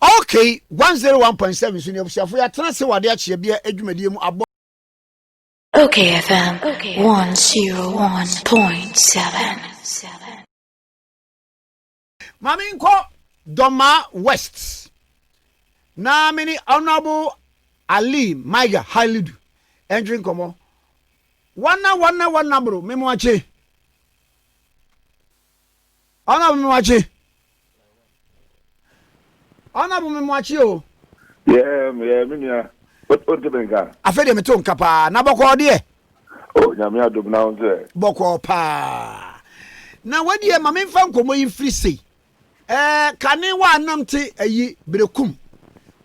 Okay one zero one point seven so ne abusuafo yɛ atena ase wɔ ade akyeɛ bea adwumadie mu abɔ. Okay FM one zero one point seven. Maame nkɔ Dɔma West na me ne Honourable Ali Maiga Halidu ɛntwe nkɔmɔ. Wana wana wana bro me mo akye. Ɔna bumi wakye. Ɔna bumi mu akye o. Yɛɛ yɛɛ me nua o nti mi nka. Afei deɛ mi to nka paa na bɔkɔɔ deɛ. O oh, nyame adum na ho sɛ. Bɔkɔɔ paa na wadiɛ ma mi nfa nkɔmɔ yi nfiri sei ɛɛ eh, kane wa anam te ayi eh, berekum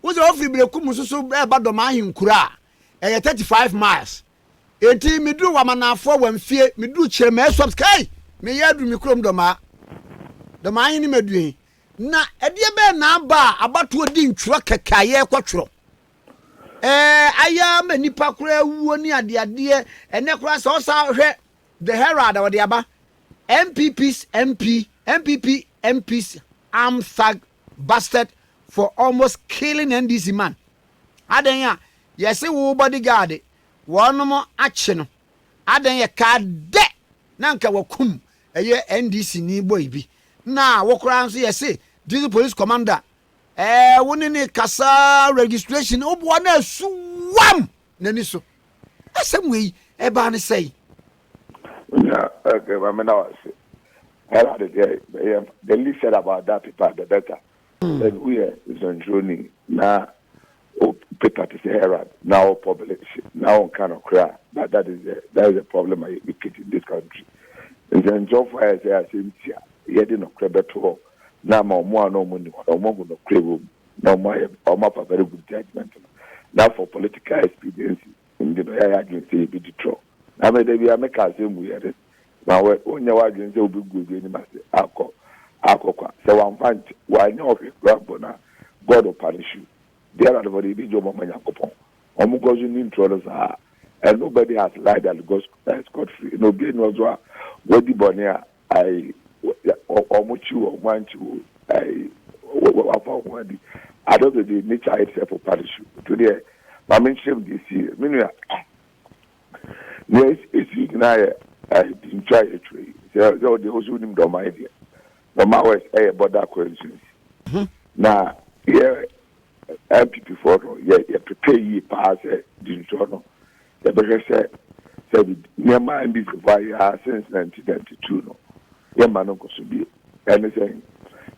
wosɛ wofiri berekum soso ɛɛba eh, dɔm ahenkura a ɛyɛ thirty five miles Enti meduru Wamanafoɔ Wamfie, meduru Kyeremɛɛ Swamps, kai! Meyɛ aduru me kurom Dɔmaa, Dɔmaa hene Maduehi. Na ɛdeɛ bɛn na aba a abatoɔ di ntwerɛ kɛkɛ a yɛrekɔ twerɛ? Ɛɛ, ayɛ ara ma nnipa koraa awuo ne adeadeɛ, ɛnnɛ koraa sɛ wosan hwɛ The Herald a wɔde aba, NPP's MP, NPP MP's armed thug busted for almost killing NDC man. Adɛn a yɛse wo body guard wɔnom akye no, adɛn yɛkaa dɛ na nka wakum ɛyɛ NDC ni boy bi na wo koraa nso yɛse District Police Commander ɛɛ wo ne ne kasaa registration woboa no asu wam! n'ani so. Asɛm wei, ɛbaa no sɛn? Onua Egbeh, ma meda wo ase. Ghana de deɛ, bɛyɛ the least said about that paper the better. Sɛ woyɛ nsɛntwerɛni na wo paper te sɛ Herald na wo publish na wonka nokorɛ a, that that is the that is the problem I educate in this country. Nsɛntwerɛfoɔ ayɛ sɛ asɛm si a, yɛde nokorɛ bɛto hɔ na ama wɔn a na wɔnni hɔ no wɔahu nokorɛ wɔ mu. na ɔmo ayɛ ɔmo afa very good judgement no na for political expediency nti na ɔyɛ adwene sɛ yɛbɛdi trɔ na me da bia meka asɛm mu yɛ this ma wɛ wonyɛ w'adwene sɛ wobɛgu obi anim ase akɔ akɔkwa sɛ wamfa nkyɛ wanyɛ ɔhwɛ kura mpo na God will punish you dear adfo de yɛbɛgye ɔmo ama Nyankopɔn ɔmo kɔ so ni ntorɔ no saa and nobody has lied and got eh, scot free na obi ani ɔso a wadi bɔne a Ai, wɔkyi wo o, wɔankyi wo o, ai, wɔafa wo ho adi. Adɔ de de nature ayɛ te sɛ po pa no su. Nti wodeɛ ma menkyerɛ mu deɛ ɛsiiɛ. Me nua, deɛ ɛsii nyinaa yɛ dintwa a yɛtwa yi. Sɛ wo deɛ wo nso wonim Dɔnmae deɛ. Dɔnmae West yɛ border constituency. Na yɛ NPP foɔ no, yɛpepɛɛ yie paa sɛ dintwa no Yɛbɛhwɛ sɛ sɛ nneɛma a ɛnde Jehovah ayɛ a sɛnsa nti na ɛte tuo no, yɛmma no nkɔ so bio. Ɛne sɛ,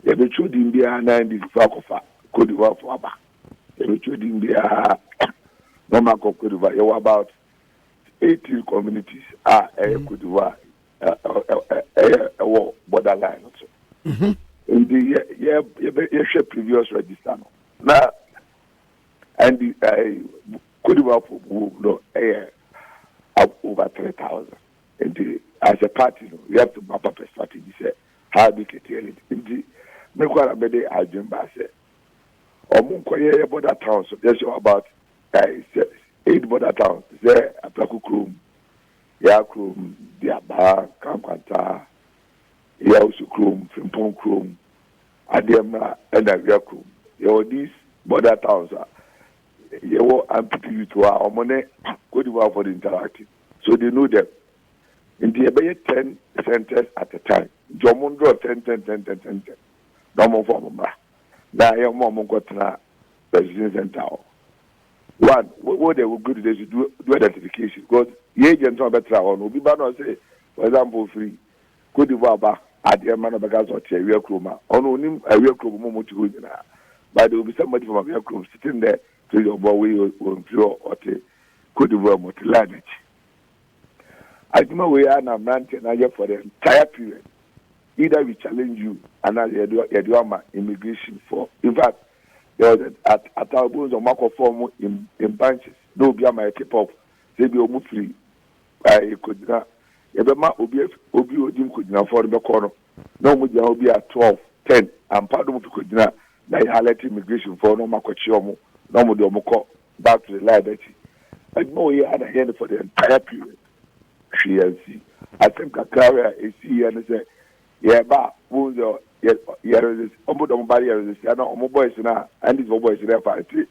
yɛbɛtwerɛ din biara na ɛnde Jehovah akɔfa Côte d'Ivoirefoɔ aba. Yɛbɛtwerɛ din biara na ɔma akɔ Côte d'Ivoire. Yɛwɔ about eighteen communities a ɛyɛ Côte d'Ivoire ɛyɛ ɛwɔ border line no so. Mhm. Nti yɛhwɛ previous register no na ɛnde Kodibafo boom no yɛ over three thousand nti as a party no we have to map up a strategy sɛ how do curtail it nti me kɔ ara mede adwene baa sɛ ɔmo nkɔ yɛ yɛ border town so yɛ show about sɛ eight border towns te sɛ Apraku Krom, Yaa Krom, Diabaa, Kankwantsaa, Yawusu Krom, Frimpong Krom, Adeɛmmra ɛna Awia Krom yɛwɔ these border towns a Yɛwɔ Ampete youth hɔ a wɔn ne Cote d'Ivoirefoɔ no interact so they know them nti yɛbɛyɛ ten centres at a time nti wɔn ndrɔ tɛntɛntɛntɛntɛntɛn na wɔn mfa wɔn mmra na yɛ wɔn a wɔn nkɔ tena registration centre hɔ one wo wo de wo good de so do do identification because yɛ agent a ɔbɛtra hɔ no obi ba na ɔsɛ for example firi Côte d'Ivoire ba adeɛ ma na ɔbɛka sɛ ɔte awia kurom a, ɔno ɔnim awia kurom ɔmo a ɔmo te hɔ nyinaa. But deɛ obisa madi fam awia kurom sitting there to your boy wei ɔnfiri hɔ ɔte Côte d'Ivoire mu ɔte line akyi. Adwuma wei ara na mmeranteɛ no ayɛ for the entire period either we challenge you anaa sɛ yɛde yɛde wo ama immigration for in fact there was a at at a obi sɛ ɔmo akɔ form in in bunches na obi ama yɛ tip off sɛ ebi ɔmo firi a ɛyɛ kogyina, yɛbɛma obi afi, obi a odi nkogyinafoɔ no bɛkɔ no, na wɔn gyina hɔ bi a twelve, ten, ampa na wɔn fi kogyina, na yɛ alert immigrationfoɔ na wɔn akɔkye wɔn, na wɔn de wɔn kɔ back to the line akyi. Adwuma wɔ yɛ a na yɛ no for the entire period, hwee ansi. Asɛm kakra wɔ a esii yɛ no sɛ, yɛba a, wɔn sɛ yɛ yɛ resist, wɔn de wɔn ba no yɛ resist, ɛna wɔn boys no a, ɛnde sɛ wɔn boys no ɛfa ɛte,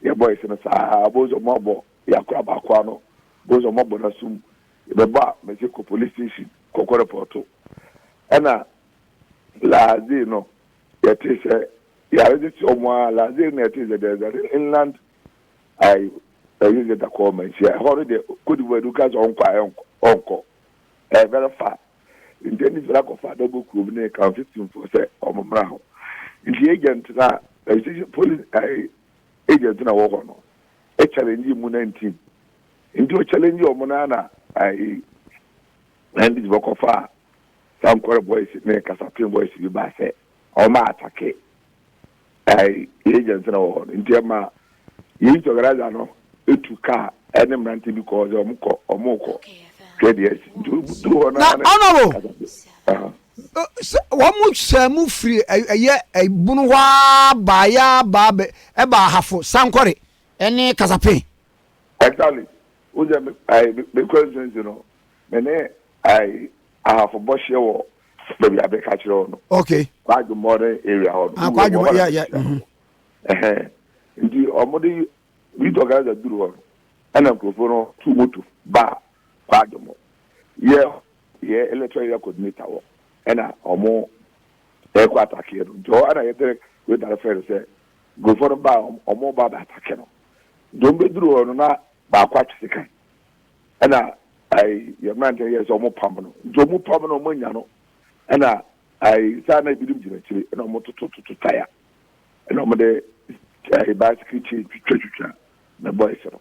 yɛ boys no saa, wɔn sɛ wɔn abɔ Yɛakɔ abaakoa no bohu sɛ wɔabɔ no asom. Yɛbɛbɔ a, mese kɔ police station kɔkɔ repɔɔto. Ɛna Laze no yɛtee sɛ yɛaregye kyerɛ wɔn ara. Laze no na yɛtee sɛ there is an inland I railway station called Manhyia. Ɛhɔ no deɛ Cote d'Ivoire de woka sɛ ɔnkɔ a ɛnkɔ, ɔnkɔ. Ɛyɛ very far. Nti ɛne sɛ akɔfa adabɔ kurom ne Kanfisifoɔ sɛ wɔmmra hɔ. Nti agent no a, registration police I Age a gyina hɔ hɔ no e challenge mu na ntim nti o challenge ɔmo no ana ae Wendy's bɛ kɔ faa Sankore boys ne Kasapin boys bi baa sɛ ɔmo atake ae Age a gyina hɔ hɔ no nti ɛma Youth organizer no tu car ɛne mmerante bi kɔɔ sɛ ɔmo kɔ ɔmo kɔ hwɛ deɛ asi nti ɔmo duru hɔ no ara ne Kasapin Sɛ wɔsaa mu firi ɛyɛ bunu hɔ ara baa yɛ ara baa bɛ ɛbaa ahafo sankɔre ne kasapen. Actually, wo sɛ me ayi me me constituency no, me ne ayi ahafo bɔ hyeɛ wɔ baabi a bɛ ka kyerɛ hɔ no. Okay. Kwadwo modern area hɔ no. Ah, kwadwo mo yeah yeah. Mhm. Ɛhɛn. Nti wɔn de youth organizer duru hɔ no, ɛna nkurɔfoɔ no tu moto baa kwadwo mo. Yɛ Yɛ electoral area coordinator hɔ ɛna ɔmo ɛkɔ attack yɛ no nti hɔ ɛna yɛ Derek Weidari frɛ no sɛ nkurɔfoɔ no baa ɔmo ɔmo ba bɛ attack no nti ɔmo bɛ duru hɔ no na baako atwe sekan ɛna ɛɛ yɛ mmerante no yɛɛ sɛ ɔmo pam no nti ɔmo pam no ɔmo anya no ɛna ɛɛ saa na ebinom gyina akyire ɛna ɔmo toto toto taya ɛna ɔmo de ɛɛ bicycle chain twitwa twitwa Me boys no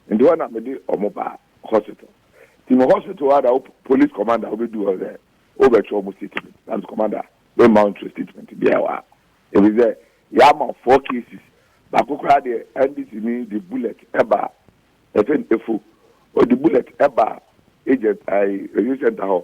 nti hɔ na me de ɔmo baa hospital nti me hospital hɔ ada wo police commander wo bɛ du hɔ sɛ wo bɛ twɛ ɔmo statement na me commander me mma ntwɛ statement biara wɔ ha ebi sɛ yɛ ama four cases baako koraa deɛ NDC ni de bullet ɛba ɛfɛ efu ɔde bullet ɛba agent ɛyi review center hɔ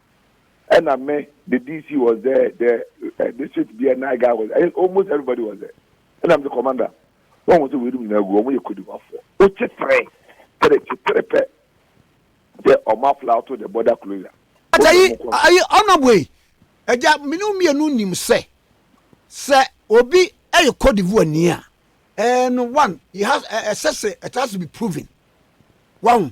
ɛna me the DC was there the uh, district beer night guy was there almost everybody was there ɛna me the commander na wɔn sɛ wei dum nyinaa gu wɔn yɛ kodimafoɔ wokye tere tere kye tere pɛ sɛ wɔn afla to the border closure. ayi ayi ɔnabɔ yi ɛgya mmienu mmienu nim sɛ sɛ obi ɛyɛ kodivoa ni a ɛɛ no one he has ɛsɛ sɛ it has to be proven wɔn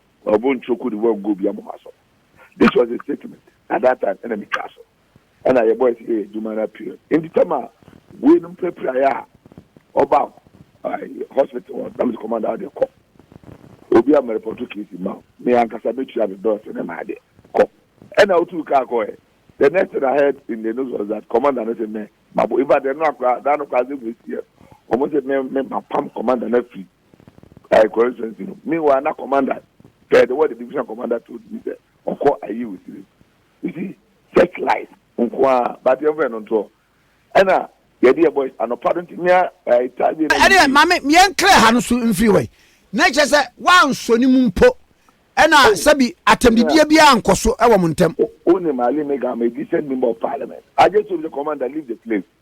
Ɔbo nkyɛ ɔkɔ di wɔn go bia mo ho asɔ no this was a statement na that time ɛna me twa so ɛna yɛ boys yɛ yɛ adwuma na period nti tam a wei nom pirapira yɛ a ɔba hospital hɔ na me sɛ commander ɔde kɔ obi a mɛrepɔto case ma me ankasa mɛtua me bills ne ma adeɛ kɔ ɛna wotu kaa kɔ ɛ the next thing I heard in the news was that commander no sɛ mɛ mabo in fact ɛno akora daa no kora asɛ mu ɛsi ɛ wɔn sɛ mɛ mɛ mapam commander no afiri I constituency no meanwhile na commander kɛɛ de wɔ the division commander told me sɛ ɔkɔ ayi osiri you see such life nko a but yɛn fɛ no ntoɔ ɛna yɛde yɛ boys anɔpa do nti mea ɛɛ taa wie na yɛ ɛdeɛ maame yɛn nkira ha no so mfiri wɔ yi na kyerɛ sɛ wansɔ ne mu mpo ɛna oh. sɛbi atɛmdidie bi ankɔ so ɛwɔ mo ntɛm. o ne maale mi ga ma edi sɛ member of parliament i just told the commander leave the place.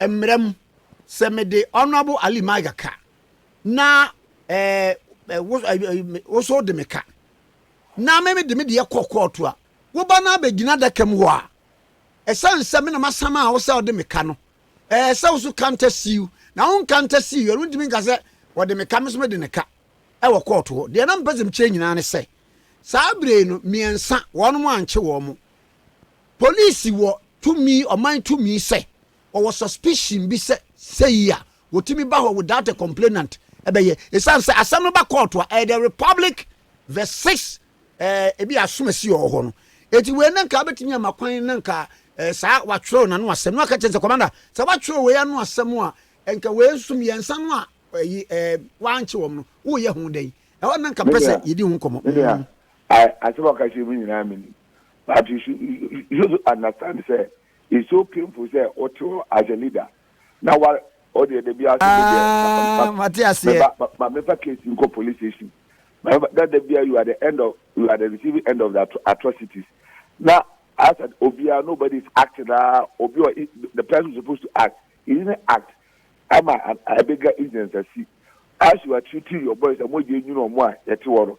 mmara mu sɛ mede honourable ali maiga ka na ɛɛ eh, woso eh, eh, de me ka na me de me deɛ kɔ kɔɔto a woba no abɛgyina adaka mu hɔ a ɛsiane sɛ me na masam a wo sɛ ɔde me ka no ɛɛ sɛ wo so kanta siiw na wo nkanta siiw ɛno ntumi nka sɛ wɔde me ka me so me de ne ka ɛwɔ kɔɔto hɔ deɛ na mpɛ sɛ mekyerɛ nyinaa ne sɛ saa bere no mmiɛnsa wɔn mo ankye wɔn mo Police wɔ tumi, ɔman tumi sɛ wɔwɔ suspicion bi sɛ sei a wɔtumi ba hɔ without a complainant ɛbɛyɛ. Ɛsiane sɛ asɛm no ba kɔɔto a ɛyɛ the republic verse 6 eh, ebi asomasi wɔ hɔ no. Eti wei na nka abɛtumi ama kwan na nka eh, saa watwerɛw n'ano asɛm no aka kyerɛ sɛ commander sɛ watwerɛw wei ano asɛm a nka wei nso mmiɛnsa no a ɛyi eh, eh, wankye wɔn no woyɛ ho dɛn ɛhɔ na nka pɛ sɛ yɛdi ho nkɔmmɔ. Mm. Asɛm a ɔka kyerɛ mu nyinaa menim. But you should you should understand sɛ it's so painful sɛ o te hɔ as a leader na wa o deɛ dabi ase de deɛ. Ah, mate aseɛ. Meba ma, ma mefa case nkɔ police station. Ma mefa na dabi a you are the end of you are the receiving end of the atrocities. Na as an obiara nobody is acting na obi ɔ the person supposed to act he didn't act ama a bigger incident asi. As you are treating your boys a mo gye nyina ɔmo a yɛte hɔ no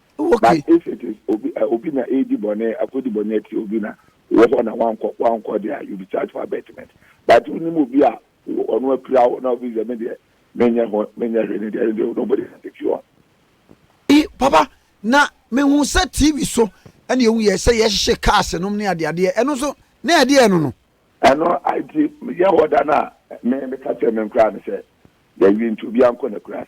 Oh, okay. But if it is obi uh, obi na edi bɔne akodi bɔne akyi obi na wɔ hɔ na wankɔ wankɔ deɛ you be charged for abetment but wonim obi a ɔno apira wo na obi deɛ me deɛ menyɛ ho menyɛ hwɛ ne deɛ ne deɛ nobody can take you on. I, papa na mehu sɛ tv so ɛna ehu yɛ sɛ yɛhyehyɛ cars nom ne adeadeɛ ɛno nso na ɛdeɛ ɛno no. ɛno nti yɛ hɔ da no a me meka kyerɛ me nkoraa no sɛ yɛwie nti obiara nkɔ n'akurase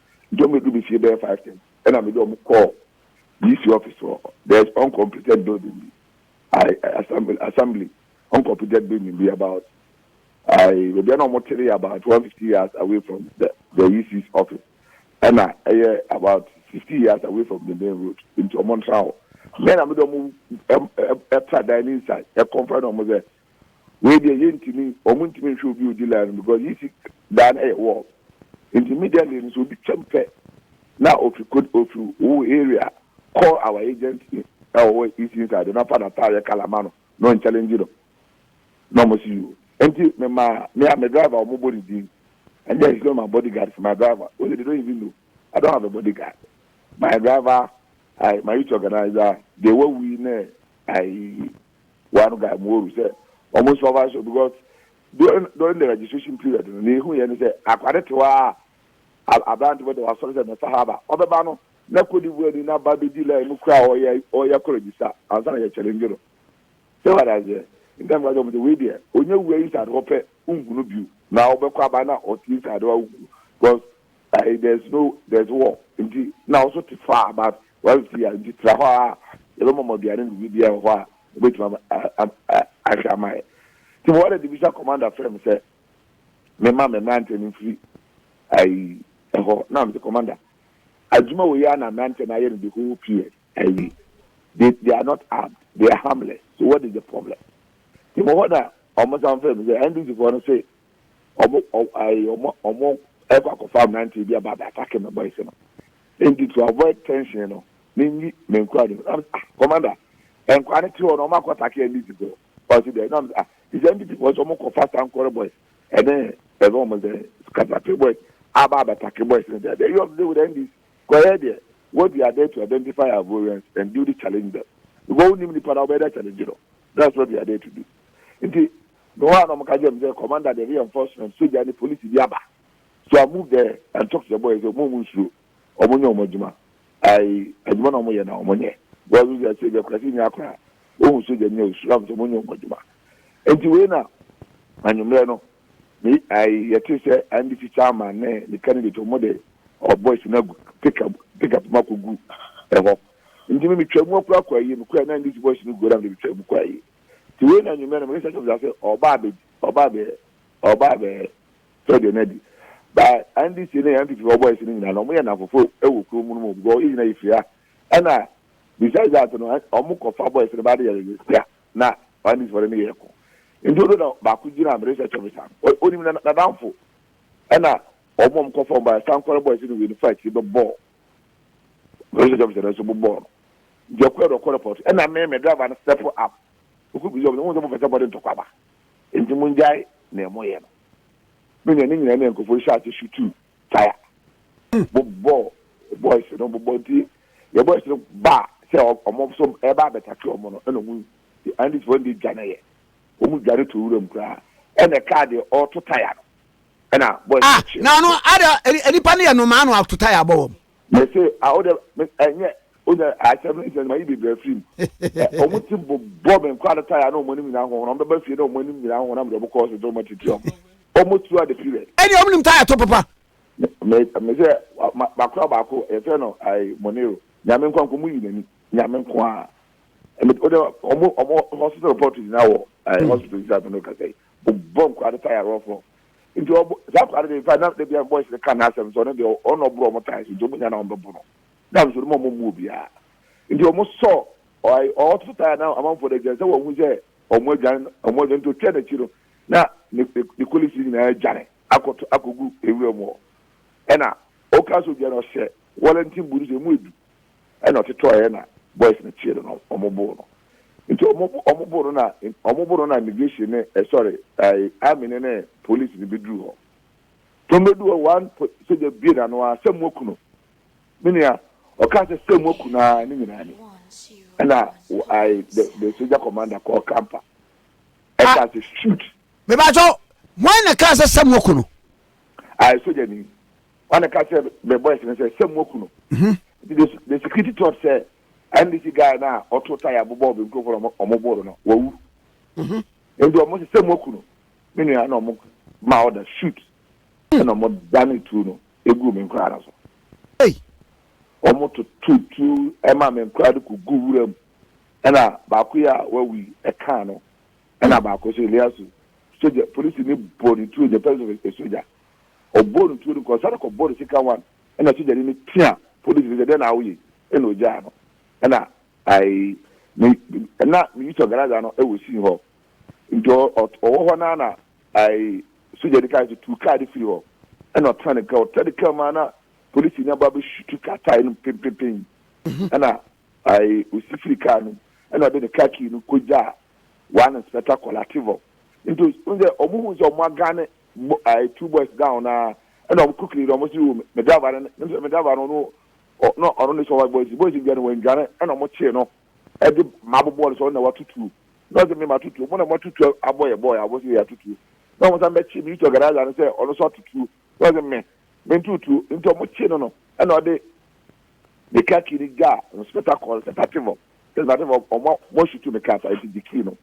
nti wɔn bɛduru me fie bɛyɛ five ten ɛna mede wɔn kɔɔ DC office hɔ there is uncompleted building bi I, assembly, assembly uncompleted building bi about I, baabi a na wɔn tere yɛ about one fifty yards away from the the EC's office ɛna ɛyɛ about fifty yards away from the main road nti wɔn ntra hɔ mɛ na mede wɔn ɛtra dan ne inside ɛkɔnfa na wɔn sɛ Wei deɛ yɛntumi wɔn ntumi nhwɛ obi odi line no because yi si dan no yɛ wall nti immediately no sɛ obi twam pɛ na ofi kod ofi wo area call our agent ɛwɔ hɔ east inside na fa n'ataadeɛ colour ma no na wɔn challenge no na wɔn si you nti me ma me a me driver wɔn bɔ ne din and then he's not my bodyguard it's my driver only they don't even know I don't have a bodyguard my driver I my youth organizer deɛ wawu yi na I. One guy mo oru sɛ ɔmo sponsor show because during during the registration period no nea ehu yɛ ne sɛ akwade te hɔ a aberante bɛda wasɔre sɛ mɛfa ha aba ɔbɛba no na Cote d'Ivoire ni na ba bedi line mu koraa ɔyɛ ɔyɛ kɔ register ansa na yɛ challenge no sɛ wada aseɛ ntam ka kyɛ ɔmo sɛ wei deɛ onye wura inside hɔ pɛ nhu no bio na ɔbɛkɔ aba na ɔte inside hɔ a nhu no because uh, there's no there's war nti na ɔso te far but Wɔafi a nti tra hɔ a yɛbɛma mo aduane ne biribiara wɔ hɔ a mubetumi ahwɛ ama yɛn. Tim Warden de bisa Commander frɛɛ me sɛ memma me mmeranteɛ no mfiri ayi hɔ na mese Commander adwuma wei ara na mmeranteɛ no ayɛ no the whole period ayi they they are not armed they are harmless so what is the problem Tim hɔ na wɔn san frɛɛ me sɛ NDC foɔ no se wɔn wɔn wɔn ɛkɔ akɔfa mmeranteɛ bi aba abɛ atake me boys no Enti to avoid tension no, minyi me nkoa no. Na mese, ah, commander, nkoa no te hɔ na wɔn akɔ take NDC fo. Ɔse dɛ. Na mese, ah, te sɛ NDC fo ɔse wɔn kɔ fast ankɔre boys ɛne ɛfɛ wɔn sɛ katape boys aba abɛtake boys no. Dɛ you of the day with NDC kɔ yɛ deɛ. What we are there to identify our variance and duly challenge them. Because wonim nipa na wobɛyɛ dɛ challenge no. That's what we are there to do. Nti, mewɔ hɔ a na wɔn ka kyerɛ me sɛ, commander, dɛ bi enforcement, sogya ne polisi bi aba. So a move there and talk to the boys ɔmo a ɔmo nsuro ɔmo nyɛ ɔmo adwuma ae adwuma na ɔmo yɛ na ɔmo nyɛ because ɔsɛ ɛsɛ bi akurase ni akora ohun soja ni osuro am sɛ ɔmo nyɛ ɔmo adwuma nti wei na anwummerɛ no me ae yɛte sɛ ndc chairman ne ne candidate ɔmo de ɔ boys na gu pick up pick up ma kɔ gu ɛhɔ nti me me twa mu akora kɔ ayie me kɔ na ndc boys no gu na me twa mu kɔ ayie nti wei na anwummerɛ no me research officer sɛ ɔba abɛ ɔba abɛ ɔba abɛ Sɛ deɛ na di. Ba NDC ne NPP foɔ boys no nyinaa no ɔmo yɛ nnamfofo wɔ kurom no mu because yɛ nyinaa yɛ firi ha. Ɛna besides that no ɔmo kɔ fa boys no ba de yɛ resistia na NDC foɔ de ne yɛɛ ko. Nti oduru na baako gyina me research office a onim na nadamfo ɛna ɔmo a ɔmo kɔ fa ɔmo ba Sankore boys no wei no fa akyiri bɛ bɔɔ me research office no nso bobɔɔ no. Nti ɔkɔɛ no ɔkɔ report ɛna me me driver no step up ɔkɔ bisi ɔmo sɛ wohu sɛ mofɛ sɛ mode ntɔkwa ba. Enti mongyae nea moyɛ no. Me nua, ne nyinaa ne nkurɔfoɔ yi hyɛɛ ase su tuu tire, bobɔɔ boys no bobɔ. Nti deɛ boys no baa sɛ wɔn nso reba abɛtake wɔn no, ɛna wɔn Andisfoɔ no deɛ dwaneeɛ. Wɔn dwane too wuram koraa. Ɛna ɛkaa deɛ ɔreto tire no, ɛna boys no Ah, kyeeɛ. na ɔno, adɛn, nnipa no yɛ nnomaa na wɔato tire abɔ wɔn. Mese a wode me ɛnyɛ wonya akyɛ me nsɛn ma yi bebree afiri mu. Ɛ wɔn ti bo bɔ me nkwa no tae a na wɔn anim nyinaa ho wɔn bɛba fie na wɔn anim nyinaa ho na mede wɔn kɔɔ so de wɔn atitiri wɔn. Wɔn throughout the period. Ɛne wɔn nim tae to papa. Me me sɛ ma makora baako yɛfrɛ no ayi Monero nyame nko nko mu yi n'ani nyame nko a. Ɛmi wode wɔn wɔn hospital report nyinaa wɔ ayi hospital yi sɛ afei na ɔkasa yi. Ɔbɔ nkwadaa no tae rough rough. Nti ɔbɔ saa akwadaa no deɛ in fact na dabi a boys no ka n'asɛm nso ɔno deɛ ɔno na ɔboro wɔn tae so nti wɔn nyinaa na wɔbɛbɔ no. Na nso ɔno wɔn mmu obiara. Nti wɔn sɔ ɔai ɔɔto tae a na amanfoɔ no adwane sɛ wɔn ahu sɛ wɔn adwane wɔn adwane nti ɔtwa n'akyi no na ne ne ne colleagues no nyinaa adwane akɔto akɔgu nwura mu hɔ. Ɛna ɔka so dwane ɔhyɛ wellington boot sɛ ɛmu edu. ɛna ɔtotɔeɛ na boys no kyeere no ɔmo boo no nti ɔmo ɔmo boo no na ɔmo boo no na immigration ne eh sorry eh army ne ne police ne bɛduru hɔ nti ɔmo bɛduru hɔ one po sogya bue n'ano a sɛ moaku no me nua ɔkaa sɛ sɛ moaku no ara ne nyinaa ni ɛna I the the sogya commander called Kampa ɛkaa sɛ shoot. Mebakyɛw, hwan na ɛkaa sɛ sɛ moaku no? I sogya ni Wọn na ka sɛ me boys no sɛ sɛ mo aku no. Nti the, the security thought sɛ NDC guy na ɔto tae abobɔ obi nkurɔfoɔ na ɔmo boro no wawu. Nti ɔmo sɛ sɛ mo aku no. Me nua na ɔmo ma order shoot ɛna ɔmo dane tuo no egu me nkoraa no so. Ɔmo toto tuo ɛma me nkoraa de ko gu wura mu ɛna baako yi a wawu yi ɛkaa no ɛna baako so Eliasu sogya polisi ni bɔ ne tuo in the presence of a sogya. ɔbɔɔ no tuo no kɔ ɔsane kɔ bɔɔ no sika wan ɛna sogyani no tea polisi no sɛ dɛn na woyɛ yi ɛna ɔgyaa no ɛna I me ɛna me youth organizer no ɛwɔ scene hɔ nti ɔwɔ hɔ naa na I sogyani kaa sɛ tu kaa de firi hɔ ɛna ɔtena ne kaa ɔtena ne kaa mu ana polisi no aba bɛsutu kaa tae no pempepen ɛna I ɔsi firi kaa no ɛna ɔde ne kaa kii no kɔgyaa one inspector Kolativo nti ɔhu sɛ ɔmo hu sɛ ɔmo agane mo ɛɛ two boys down na ɛna wɔn ko kiri na wɔn si o me driver no ne sɛ me driver no no na ɔno ne sɛ ɔwa boys boys bi no wɔn dwane ɛna wɔn kyee no ɛde ma abobɔ no sɛ ɔno na watutuo na ɔsɛ me ma tutuo mo na mo atutuo abɔ yɛ bɔɔl abɔ sɛ yɛ atutuo na wɔn san bɛkye me yutu ɔgaraza no sɛ ɔno nso atutuo na ɔsɛ me me ntutuo nti wɔn kyee no no ɛna ɔde ne kaa kii no gyaa no spectacle sɛ tativɔ sɛ tativɔ wɔn wɔn sutu me kaa sa eti gye kii no.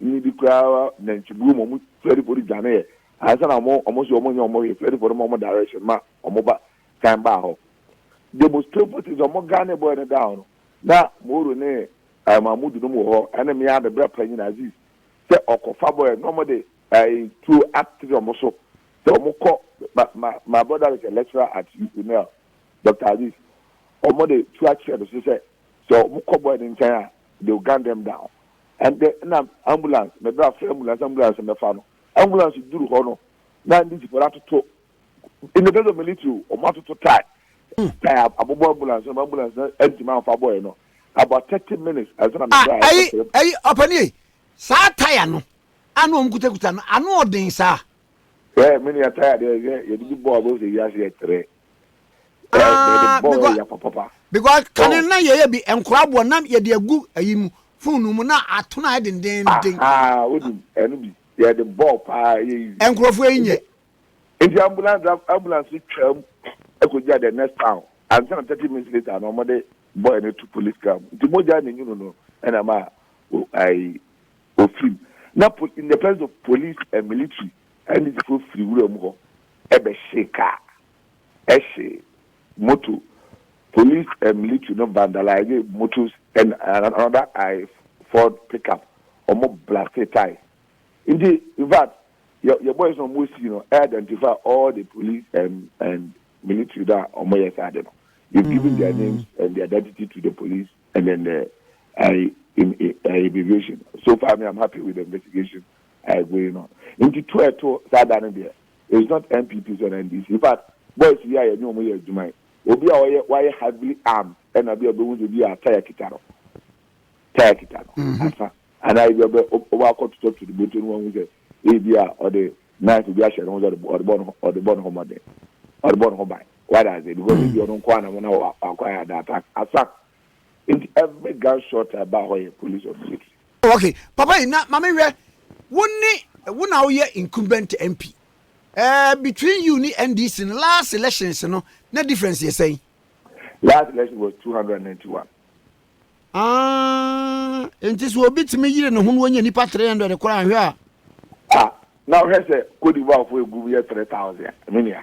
Nyi bi koraa nantwibuo mu ɔmo fɛrifo de dwane yɛ ansa na ɔmo ɔmo so ɔmo nyɛ ɔmo hwee fɛrifo no ma ɔmo direction ma ɔmo ba kan baa hɔ the most painful thing sɛ ɔmo gane boy no down no na mooro ne ɛɛ mahmudu nom wɔ hɔ ɛne mea me bra panyin aziz sɛ ɔkɔ fa boy na ɔmo de ɛɛ tuo atere ɔmo so sɛ ɔmo kɔ ma ma my brother is a lecturer at unl dr aziz ɔmo de tuo akyerɛ no so sɛ sɛ ɔmo kɔ boy no nkyɛn a they will gun them down Ɛnde na ambulance, mebra afrɛ ambulance, ambulance mmɛfa no. Ambulance duru hɔ no, na ndisifoɔ no atoto, in the case of military o, wɔn atoto tae, tae abobɔ ambulance no ma ambulance no antumi amfa bɔɔɛ no. About thirty minutes ansa na mebra a ɛkɔsrɛ mu. Ayi, ayi, ɔpanin ei, saa tae ano a na wɔn kutakuta no, ano ɔden saa? Hwɛ, me nua, tae adeɛ, hwɛ, yɛde bi bɔ a, wobɛhu sɛ wiase yɛ trɛ. Ah, because because kane na yɛyɛ bi nkora boɔ na yɛde agu ayi mu fone mu na atono ayɛ dendenden. Aha, wonim ɛno bi yɛde bɔɔ paa yɛ yi. Nkurɔfoɔ yi nyɛ. Nti ambulance ambulance twam ɛkɔgya the next town ansa na thirty minutes later na wɔde boy no to police car mu nti mogya na nyunu no ɛna ma ayi ofim na in the presence of police and military Anisifo firi wuram hɔ bɛhyee kaa, hyee moto, police and military no vandalise motos and another I Ford pickup, wɔn blastee tae. Nti infact yɛ yɛ boys no wɔn sii no identify all the police and and military no a wɔn yɛ saa ade no, they've given their names and their identity to the police and then the I I immigration. So far me I'm happy with the investigation I agree no nti to a ɛto saa da no deɛ is not NPP so na NDC in fact boys yi a yɛne wɔn yɛ adwuma yi obi a ɔyɛ wayɛ heavily armed ɛna bi a ɔbɛhu sɛ bi a taya kita no taya kita no mhm. asa anaa ebi ɔbɛ ɔbɛ akɔ totɔ to ne bɔtɔ no wɔn sɛ ebi a ɔde knife bi ahyɛ ne ho sɛ ɔde bɔ ne ho ɔde bɔ ne ho mɔden ɔde bɔ ne ho ban why does it because ebi ɔno nkɔ anam na wakɔ ayɛ ada attack asa nti every gun shot a ɛba hɔ yɛ police or military. Oh okay papa yi na maame hwɛ wo ne wo na woyɛ incumbent MP ɛɛ eh, between you ne NDC no last elections no na difference yɛ sɛn. Last election was two hundred and ninety one. Ah, nti so obi tumi yiri ne ho na wɔnyɛ nipa three hundred koraa ahwɛ a. Ah, na ɔhwɛ sɛ Cote d'Ivoire fo egu yɛ three thousand, me nua.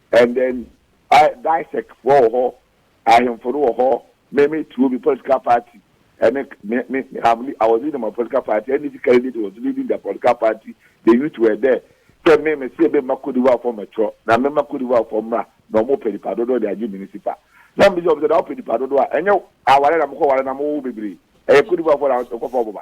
And then Dysek foɔ wɔ hɔ, ahemfo no wɔ hɔ, me me tuo me political party ɛne me me I'm I was leading my political party, NDC candidate was leading their political party, the youth were there. Sɛ me me se me mma Cote d'Ivoire foɔ mɛtwerɛ na me mma Cote d'Ivoire foɔ mmra na wɔn pɛ nipa dodoɔ de agye municipal. Na me bisa wɔn sɛ na wopɛ nipa dodoɔ a ɛnyɛ aware na mokɔ ware na mowo bebree ɛyɛ Cote d'Ivoire foɔ na ɛkɔfa wɔn ba.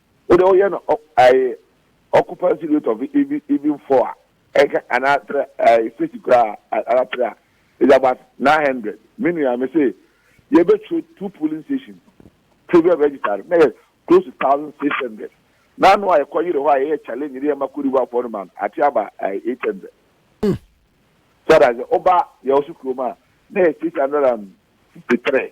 Wo de woyɛ no ae occupancy rate of even even four a ɛka ana tra ae six kura ara tra a is about nine hundred me nua me se yɛ bɛ tro two polling station previous register no na yɛ close to thousand six hundred na ano a yɛ kɔ yere hɔ a yɛ yɛ challenge ne yɛ ma kori wa fɔ no ma no ate aba ae eight hundred so that oba yɛ ɔso kuro ma na yɛ six hundred and fifty three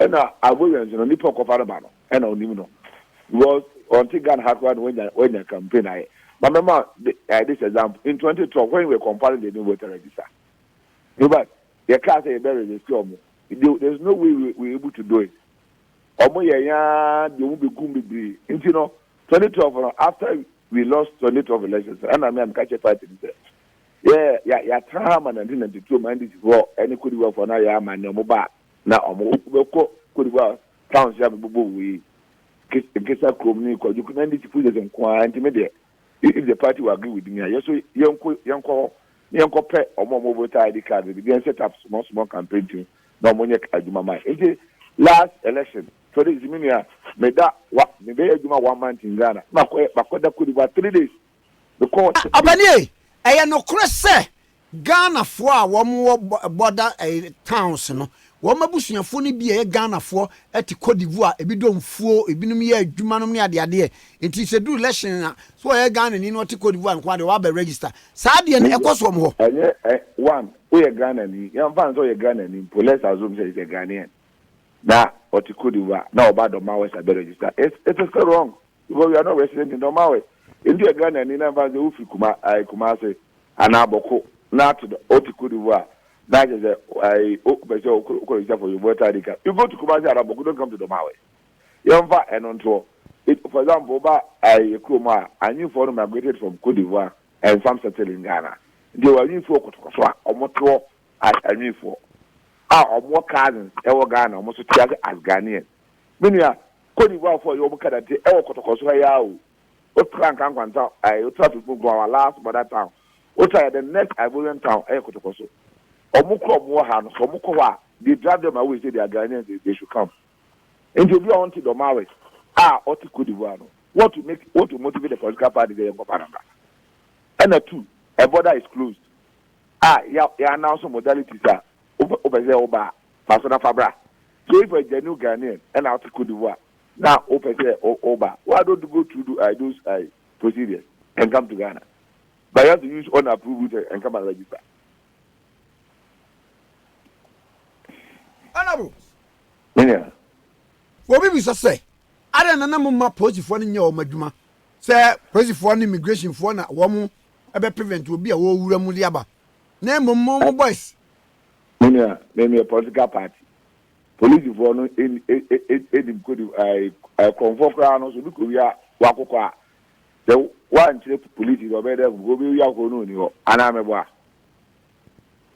Ɛna agbo wɛn so no nipa ɔkɔfa no ba no ɛna ɔnim no because ɔnte Ghana ha koraa na wanya wanya campaign ayɛ ma mɛma eh this example in twenty twelve when we were compiling the new voter register no but yɛ kaa sɛ yɛ bɛ register ɔmo there there is no way we we able to do it ɔmo yɛ yɛn ara deɛ ɔmo bɛ gum bebree nti no twenty twelve no after we lost twenty twelve elections ɛna mi a mi ka kyɛ party ni sɛ yɛ yɛ yɛ atena ha ma nineteen ninety two ma ndc foɔ ɛne kodiwa foɔ na yɛ ama ne ɔmo ba Na wɔbɛkɔ Côte d'Ivoire towns yi a mebobɔɔ wɔ yi, Nkesa kurom ne Kwajok na NDC pushes nko ara nti me deɛ if the party will agree with me a yɛ nso yɛnko yɛnkɔ hɔ na yɛnkɔpɛ wɔn a wɔwɔ voter ID card no bi na yɛn set up small small campaign team na wɔnyɛ adwuma ma yɛn. Nti last election twenty sixteen me nua meda wa mebɛyɛ adwuma one month in Ghana na makɔ makɔda Côte d'Ivoire three days mekɔɔ. Ɔpanin ei, ɛyɛ nokorɛ sɛ Ghanafoɔ a wɔwɔ border towns no, wɔn abusuafoɔ no bi a ɛyɛ Ghanafoɔ te Cote d'Ivoire, ebi dɔ mfuo, ebinom yɛ adwuma nom ne adeadeɛ, nti sɛ ɛduru election a, sɛ ɔyɛ Ghanani na ɔte Cote d'Ivoire nko ara deɛ, waba register. Saa adeɛ no, ɛkɔ so wɔn hɔ. Ɛnyɛ ɛ, one, woyɛ Ghanani, yɛmfa no sɛ ɔyɛ Ghanani mpo, let's assume sɛ he's a Ghanaian, na ɔte Cote d'Ivoire, na ɔba Dɔm Awɛs abɛ register, it's, it's still wrong. Because we are not west sɛ nti nɔɔma wɛ nti yɛ Ghana ni na nfa sɛ wo firi kuma ayi Kumasi anaa bɔko na ato dɔ o te Cote d'Ivoire na akyɛ sɛ ayi o pɛ sɛ o kɔ o kɔ register for your voter ID card you go to Kumasi anaa bɔko don't come to nɔɔma wɛ yɛn nfa ɛno ntoɔ it for example wo ba ayi yɛ kuro mu a anyi foɔ no migrated from Cote d'Ivoire and some settle in Ghana nti wɔ anyi foɔ kɔtɔkɔ so a wɔn toɔ as anyi foɔ a wɔn wɔ cousins ɛwɔ Ghana wɔn so te ase as Ghanaian. Me nua, Côte d'Ivoire foɔ yɛ wɔn kadate ɛwɔ kɔtɔkɔ so ha yi ara o. Wo tra Nkankwa nta ɛɛ wo tra Fekunkun our last mother town. Wo tra yɛ the next Ivorian town ɛyɛ kɔtɔkɔ so. Wɔn kura wɔn wɔ ha no sɛ wɔn kɔ hɔ a they drag them away say they are Ghanaians they they should come. Nti obi a ɔnte Dormawe a ɔte Côte d'Ivoire no what to make what to motivate the political party sɛ yɛnkɔ Panama. Ɛna two, ɛ border is closed a yɛ yɛ announce modalities a wopɛ wopɛ sɛ woba a Fa so na fa bra. So if a genuine Ghanaian na wote Cote d'Ivoire na wopɛ sɛ woba a, why don't you go through tho I those I procedures and come to Ghana? But you have to use unapproved route and come and register. Honourable. Me nua. Obi bisa sɛ, adɛn na na momma polisifoɔ no nyɛ wɔn adwuma sɛ polisifoɔ ne immigrationfoɔ na wɔn ɛbɛ prevent obi a wɔrewura mu de aba na mmom mo mo boys Me nua, me meyɛ political party. Polisifoɔ no nim kodi ae, korɔmfoɔ koraa no so bi kowia wakokɔ a, sɛ woankyerɛ polisi no ɔbɛyɛ dɛ ahu, obi wia akokɔ no ɔnni hɔ, anaa meboa?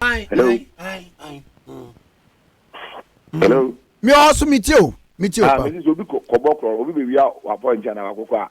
Hello? Hello? Me ɔwɔ so, metie o, metie o ah, pa. Ah, mesi sɛ obi kɔbɔ korɔ, obi bɛwia wapɔnkye anaa wakokɔ a,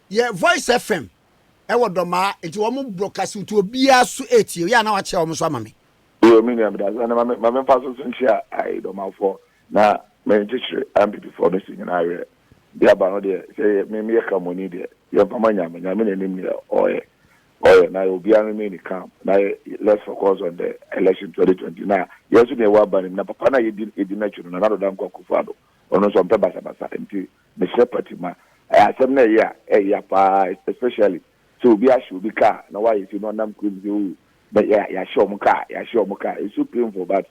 Yɛ voice FM ɛwɔ dɔmaa nti wɔn broadcast nti obiara so etie yɛ a na wakyɛ wɔn so ama me. Yoo me nua medase ɛne mame mame mfa so so nkyia ae dɔmafoɔ na me nkyekyere ampipifoɔ no si nyina awerɛ deɛ aba no deɛ sɛ yɛ me meyɛ kramoni deɛ yɛ mfa ma nyame nyame na nim neɛ ɔɔyɛ ɔɔyɛ na yɛ obiara remain ne calm na yɛ let's focus on the election 2020 na yɛ nso deɛ ɛwɔ aba nim na papa no a yɛdi yɛdi n'akyi no Nana Addo Dankwa Akufo-Addo ɔno nso ɔmpɛ basabasa nti Mesrɛ pati ma ɛyɛ asɛm na ɛyɛ a ɛyɛ ya paa especially sɛ obi ahyɛ obi car na wayɛ sɛ na ɔnam kurom sɛ oh na yɛ yɛahyɛ wɔn car yɛahyɛ wɔn car it's so painful but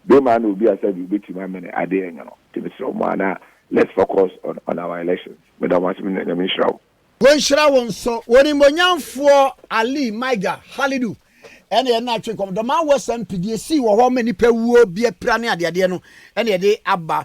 bere maa na obi asa bi obetumi amene adeɛ nyɛ no nti mesrɛ wɔn a na let's focus on on our elections meda wɔn ase me nua nyame nhyira wo. Wɔnhyira wo nso. Onimuonyamfoɔ Ali Maiga Halidu na yɛne no atwe nkɔmmɔ. The man was MP, deɛ ɛsii wɔ hɔ ma nnipa wuo, biapira ne adeadeɛ no na yɛde aba.